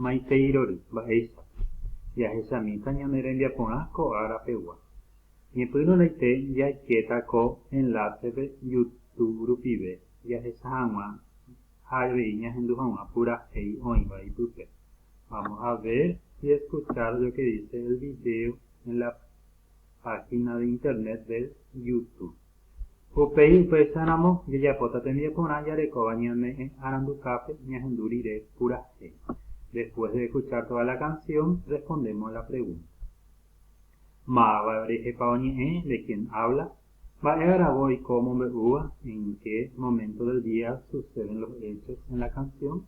Maiteirory mba'éicha jahechamíta ñane rembiaporã ko ára pegua. Ñepyrũraite jaikéta ko enlásepe Youtube rupive jahecha hag̃ua ha avei ñahendu hag̃ua purahéi oĩva ipype. Vamos a ver y escuchar lo que dice el video en la página de internet del Youtube. Upéi upéicharamo jajapóta tembiaporã jarekóva ñane'ẽ aranduhápe ñahendu rire purahéi. Después de escuchar toda la canción, respondemos la pregunta, Máva rehepa oñe'ẽ? ¿De quién habla? Mba'e agravo oiko omombe'úva? ¿En qué momento del día suceden los hechos en la canción?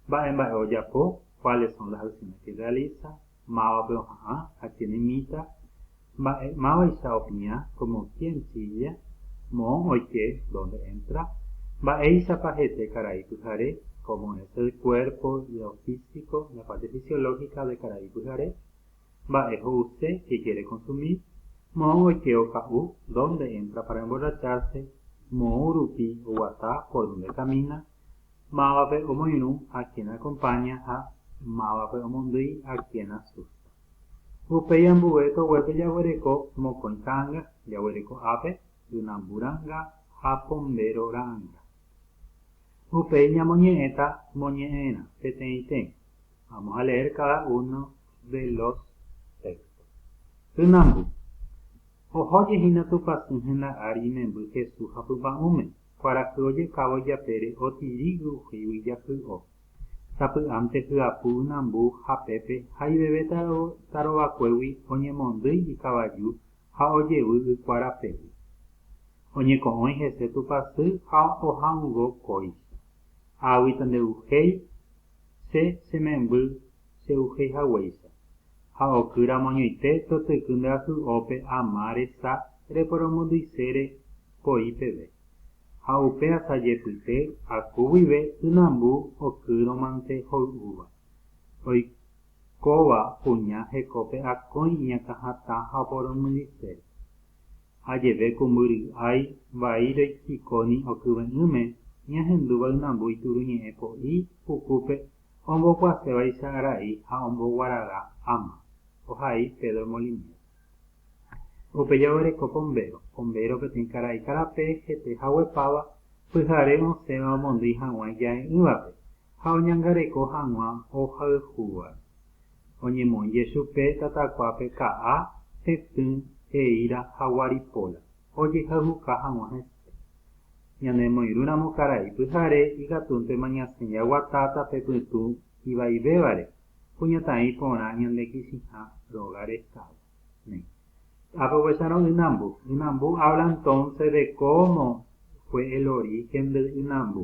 Mba'e mba'e ojapo, cuáles son las acciones que realiza, mávape oha'ã ha quién imita, mba'e mávaicha opiã, como quién chilla, moõ oike, dónde entra, mba'éichapa hete karai pyhare, cómo es el cuerpo, lo físico, la parte fisiológica de karai pyhare, mba'e ho'use, qué quiere consumir, moõ oike oka'u, dónde entra para emborracharse, moõ rupi oguata, por dónde camina, Mávape omoirũ a quien acompaña ha mávape omondýi a quien asusta. Upéi ambue toguépe jaguereko mokõi ta'anga, jaguereko ápe, ynambu ra'anga ha pombéro ra'anga. Upéi ñamoñe'ẽta moñe'ẽrã peteĩteĩ. Vamos a leer cada uno de los textos. Ynambu. Oho jehína Tupãsy henda ári imemby Jesús hapypa'ũme. Kuarahy ojeka voi japére otirígu ohuígui jahy'o. Sapy'ánte hyapu ynambu ha pépe ha iveve tarovakuégui oñemondýi ikavaju ha ojevy ykua rapégui. Oñeko'õi hese tupasy ha oha'uvõ kóicha. Águita ndevuhéi, che chememby chey'uhéi haguéicha, ha oky ramoñoite totyky nderasy'ópe ama resa reporomondysére po'i peve, ha upe asa jepyte aku guive ynambu okýrõmante hoy'úva. Oikóva kuña hekópe akói iñakãhatã ha oporomondysére. Ajeve ku mbyry'ái vai roichikóni okyve'ỹme ñahendúva ynambu ituruñe'ẽ po'i pukúpe Ombokuasévaicha ra'i ha omboguaraga áma, ohai Pedro Molinero. Upéi oguereko pombéro. Pombéro peteĩ karai karape hete haguepáva pyhare osẽva omondýi hag̃ua ija'e'ỹvape ha oñangareko hag̃ua ohayhúvape. Oñemonje chupe tatakuápe ka'a, tetỹ, eíra ha guaripóla. ojehayhuka hag̃ua hese. Ñanemoirũramo karai pyhare ikatúntema ñasẽ jaguata tape pytũ ivaivévare, kuñataĩ porã ñande kichĩha róga restávo. Néi. Ápe oguecharõ ynambu. Ynambu habla entonce de cómo fue el origen del ynambu.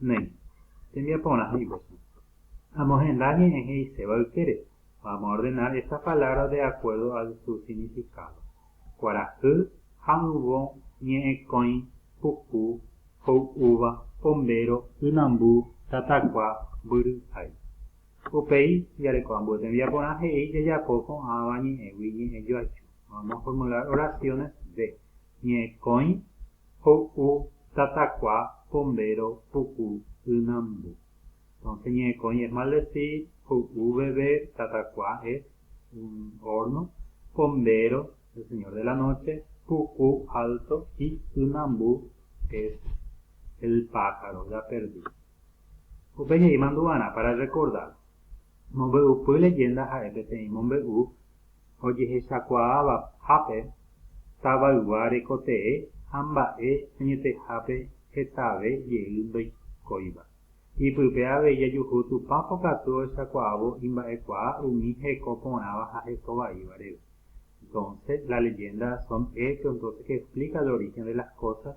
Néi, tembiaporã he'ivesa. Amohenda ñe'ẽ he'iséva ykére, va amoordenar esa palabra de acuerdo al su significado. Kuarahy, ha'ỹvo, ñe'ẽkõi, puku, hoy'úva, pombéro, ynambu, tatakua, mbyryhái. Upéi, jareko ambue tembiaporã he'i jajapo ko'ãva ñe'ẽgui ñe'ẽjoaju. Vamos formular oraciones de, ñe'ẽkõi, Ho'u, tatakua, pombéro, puku, ynambu. Entonces ñe'ẽkõi es maldecir, ho'u, beber, tatakua es un horno, pombéro, el señor de la noche, puku, alto, y ynambu es el pájaro ya perdido. Upe jey mandu'arã para recordar. Mombe'upy leyenda ha'e peteĩ mombe'u. ojehechakuaáva hápe, tavaygua rekotee ha mba'e añetehápe hetave jey ndoikóiva. Ipype avei jajuhu Tupã pokatu ohechakuaávo imba'ekuaa umi heko porãva ha heko vaíva reve. Entonce, las leyendas son hechos entonces que explica el origen de las cosas,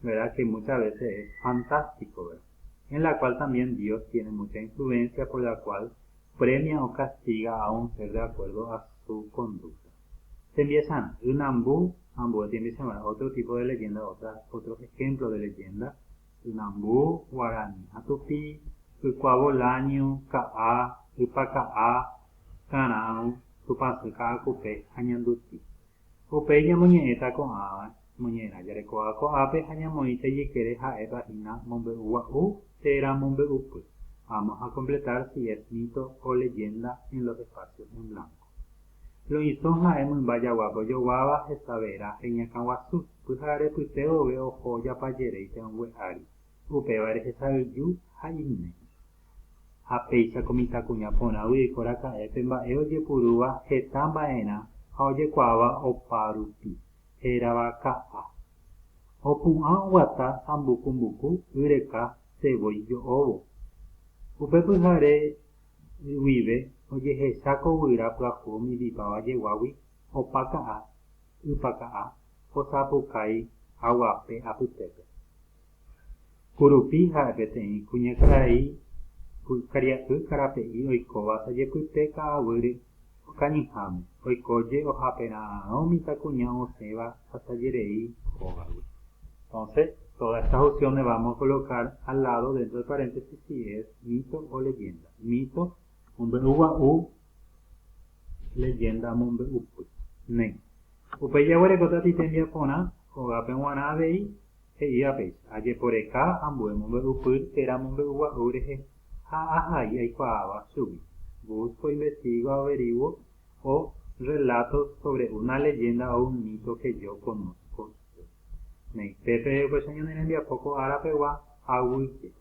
verá que muchas veces es fantástico, verá. En la cual también Dios tiene mucha influencia por la cual Premia o castiga a un ser de acuerdo a su conducta. Tembiasarã, ynambu ambue tembiasarã otro tipo de leyenda otra otro ejemplo de leyenda, ynambu, guarani ha tupi, ykua volaño, ka'a, ypa ka'a, karãru, tupãsy ka'akupe ha ñanduti. Upéi ñamoñe'ẽta ko'ãva Ñañe'ẽrã jarekóva ko'ápe ha ñamoĩta ijykére ha'épa hína mombe'ugua'u térã mombe'upy. Vamos a completar si es mito o leyenda en los espacios en blanco. Loisõ ha'e mymba jagua mbojoguáva hesavera heñakãguasu, pyhararepyte vove oho japajeréipe ongue ári, upéva rehesa'ỹju ha iñméi. Ha péicha ko mitãkuña porãgui oiko raka'e pe mba'e ojepurúva heta mba'erã ha ojekuaáva opa rupi. hérava ka'a. Opu'ã oguata sambuku mbuku y reka sevoi jo'óvo. Upe pyhare guive ojehecha ko guyra pyahu omindipáva jeguágui opa ka'a, ypa ka'a, osapukái haguape apytépe. Kurupi ha'e peteĩ kuñakarai karia'y karape'i oikóva asajepyte ka'aguýre okañyháme, oikóje ohapera'arõ mitãkuña osẽva asajerei hógagui. Entonces, todas estas opciones vamos a colocar al lado dentro del paréntesis si es mito o leyenda. Mito, mombe'u gua'u, leyenda, mombe'upy. Néi. Upéi jaguerekóta ti tembiaporã, hógape g̃uarã avei, He'íva péicha, Ajeporeka ambue mombe'upyr térã mombe'ugua'u rehe ha ahai aikuaáva chugui. Booth fue investigo averiguo o relato sobre una leyenda o un mito que yo conozco yo. Ne'ẽ, pépe upéicha ñane rembiapo ko ára pegua aguy jeko.